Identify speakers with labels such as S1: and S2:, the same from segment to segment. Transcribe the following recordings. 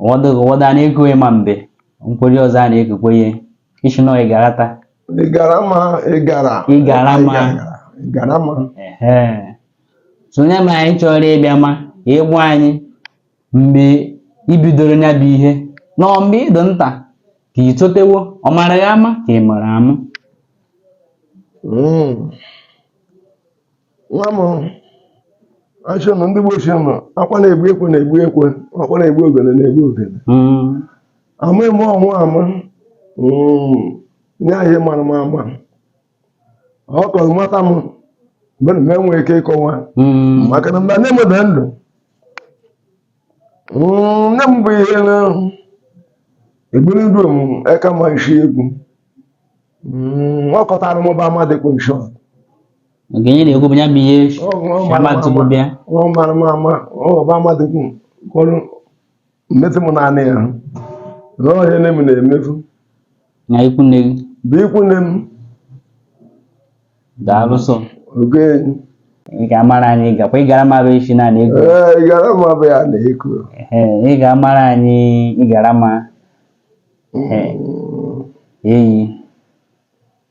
S1: ụfọdụ ụfọdụ a na-ego ya ma mbe nkweri ọzọ a na-egokwe ya isi na ị garata ị gara ma ị gara Ị gara ma. ị gara ma ehe sonye ma anyị chọrọ ịbịa ma ị gwa anyị mgbe i bidoro ya bụ ihe na ọ mgbe ị dụ nta ka ị totewo ọ mara gị ama ka ị mara ama Mm. nwa m achị na ndị gbochie ma akwa na-egbu ekwe na-egbu ekwe aka na-egbu ogene na-egbu ogene amaghị m ọnwa ama nye anyị mara m ama ọ kọrọ mata m mgbe na-enwe ike ịkọwa maka na mgbe nne m dị ndụ nne m bụ ihe na egburu ndụ m eka ma isi egwu ọ kọtara m bụ amadịkwa nshọt nke ihe na-ekwu bụ ya bụ ihe shamatụbụ bịa ọba mmadụ kwụrụ mmetụ m naanị ya na ọhịa nne m na-emefu na ikwu nne gị bụ ikwu nne m daalụsọ oge ị ga-amara anyị gakwa ịgara mara isi na na-ekwu ịgara ma bụ ya na-ekwu ị ga-amara anyị ịgara ma eyi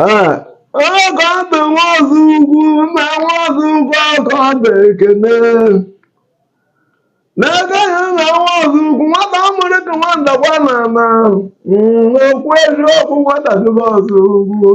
S1: Ah, onye ka ọ dị nwa ọzọ ugwu na nwa ọzọ ugwu ọka ọ dị ekene n'ebe ya na nwa ọzọ ugwu nwata amụrụ ka nwa ndakwa na ana Mm, okwu eziokwu nwata dịba ọzọ ugwu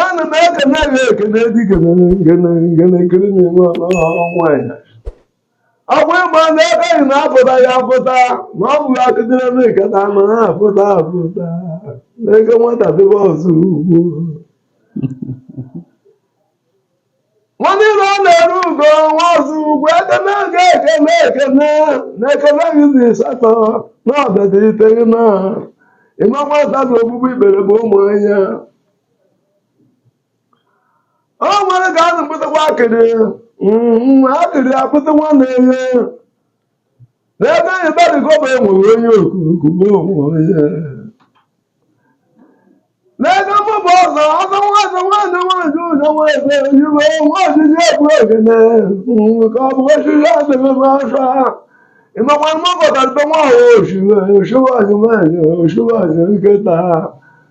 S1: ana m ekene gị ekene dikene ngene ngene nkiri na-enwe ọnụ ọnwa ya ọ bụ ịgba ndị aka anyị na-apụta ya apụta na ọ bụghị akụdịrị ebe nkata anọ ha apụta apụta n'ego nwata dịbe ọzọ ugwu nwanne ire ọ na-eru ugo nwa ọzọ ugwu aka na-aga ekene ekene na ekene gị dị satọ na ọdịdị iteghị na ịma nwata na ogbugbu ikpere bụ ụmụ anya o nwere ka a na-akpụtakwa akịrị mm, akịrị akpụta nwa na-enye n'ebe anyị barịkọba enwere onye okukugbo onwe ya n'ebe mụ bụ ọzọ ọzọ nwaazị nwaanyị nwaanyị ụzọ nwaazị oyibo nwa ọdịdị ebu ogene mm, ka ọ bụ osisi adịghị m afọ ịmakwa mma bọtara ibe nwa ahụ oshiwe oshiwe azụmahịa oshiwe azụ nkịta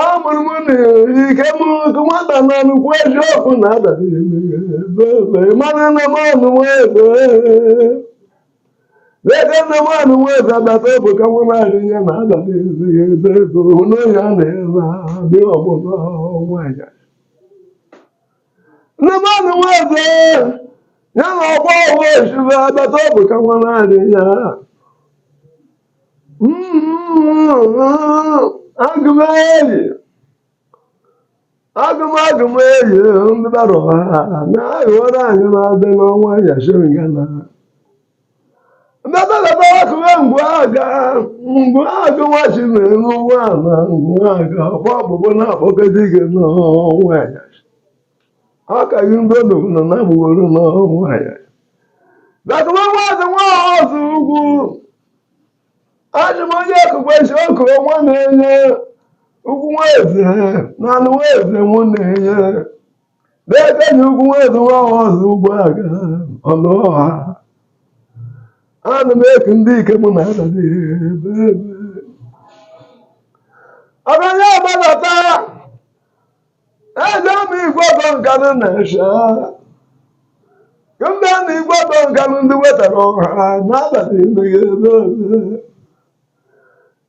S1: amụrụ m n'ike m otu nwata na nnukwu eziokwu na adara mmanụ na mmanụ nweze n'ebe nne mmanụ nweze adata obu ka nwa naanị ya na adara ezighị ebe ego n'ohi a na-ere dị ọgbụna nwanyị Ndị mmadụ nweze ya na ọgba ọgwụ osibe abata ọ bụ ka nwa naanị ya agụmeri agụmagụmeri ndị bara ha na-aghọrọ anyị na-adị n'ọnwa yashiringana Ndebelebewakụwe ngwaaga ngwaaga nwachi mere n'ụwa na ngwaaga kwa ọgbụgbọ na-akpọkọta ike n'onwe ya akaghị ndị odogwu nọ na-abụgoro n'onwe ya dakụba nwaeze nwa ọzọ ugwu ajụ m onye ekụkwe isi ọkụ nwa na-enye ugwu nwa eze na anụ nwa eze mụ na-enye n'ebe na ugwu nwezuwa ọzọ ugwu aga ọnụ ọha ana m eku ndị ike mụ na adabi ebe ebe ọbanye agbadata eje m igwe ọtọ Nkanụ na esha ndị na igwe ọtọ Nkanụ ndị wetara ọha n'abalị ndị ebe ebe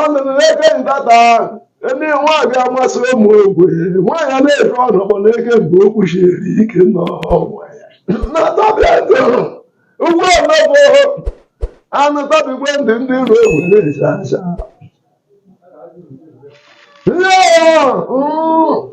S1: ọnụ m na-eke ntata ndị nwaanyị amasị ụmụ ogwe nwaanyị a na-efe ọnụ kpọ na-eke mgbe ọ kwụshiri ike n'onwe ya na tabịa ntụ ugbu a mebụ anụ tabigwe ndị ndị iro egwu na-eji aja Yeah. Mm.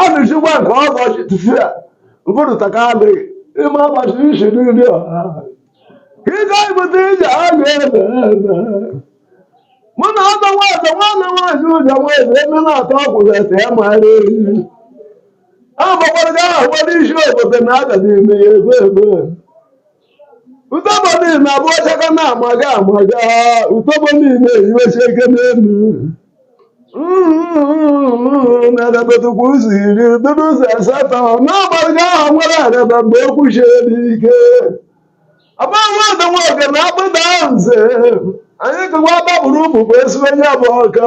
S1: anụchikwa nke ọbọchị tụfia mpụrụta ka adịghị ime ọbọchị isi n'ụdị ọha ike ibute ije a ga-ebe mụ na ọdọ nwaeze nwanne nwaanyị ụjọ nwaeze eme na atọ ọkwụzete ya mara ehi a gbakwara ga ahụ isi obodo na agadi ime ya ebe ebe utobo niile na-abụ ọchaka na-amaga amaga utobo niile eyiwechi ike n'elu na-edebetukwa ụzọ iri dịrị ụzọ asatọ n'agbaghị aha nwere araba mgbe ọ kwụshiri ike agbanwe dị nwoke na akpụda nze anyị kụwa gbapụrụ ụmụ bụ ezigbo onye bụ ọka